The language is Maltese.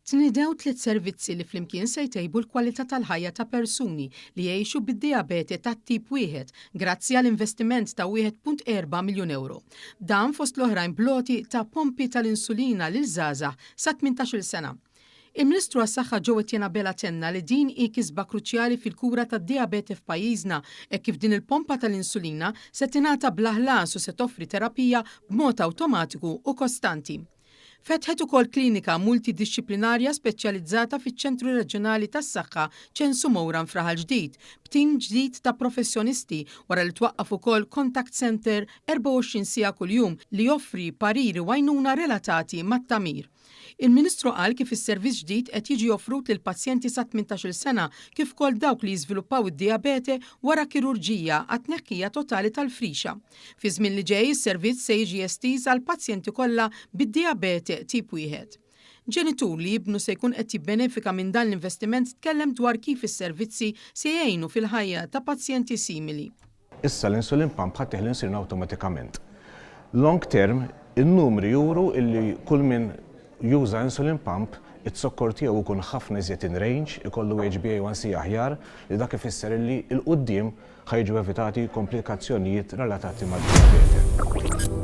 Tnidew tliet servizzi li flimkien se jtejbu l-kwalità tal-ħajja ta' persuni li jgħixu bid-dijabete tat-tip wieħed grazzi għal investiment ta' wieħed punt erba' miljun ewro. Dan fost l-oħrajn bl-għoti ta' pompi tal-insulina lil żgħażagħ sa tmintax-il sena. Il-Ministru għas-Saħħa Joe Etienne Abela tenna li din hi kisba kruċjali fil-kura tad-dijabete f'pajjiżna hekk kif din il-pompa tal-insulina se tingħata bla ħlas u se toffri terapija b'mod awtomatiku u kostanti. Fetħet ukoll klinika multidixxiplinarja speċjalizzata fiċ-Ċentru Reġjonali tas-Saħħa Ċensu Mowran f'Raħal Ġdid, b'tim ġdid ta' professjonisti, wara li twaqqaf ukoll Contact Centre 24 siegħa kuljum li joffri pariri u għajnuna relatati mat-tagħmir. Il-Ministru qal kif is-servizz ġdid qed jiġi offrut lil pazjenti sa 18-il sena kif ukoll dawk li jiżviluppaw id-dijabete wara kirurġija għat-tneħħija totali tal-frixa. Fiż-żmien li ġej is-servizz se jiġi estiż għall-pazjenti kollha bid-dijabete tip wieħed. Ġenitur li ibnu se jkun qed jibbenefika minn dan l-investiment tkellem dwar kif is-servizzi se jgħinu fil-ħajja ta' pazjenti simili. Issa l-insulin pump ħa tieħ l-insulin awtomatikament. Long term, in-numri juru li kull min juża insulin pump, iz-zokkor tiegħu jkun ħafna iżjed in range, ikollu HbA1c aħjar, li dak ifisser li 'l quddiem Ħa jiġu evitati komplikazzjonijiet relatati mad-dijabete.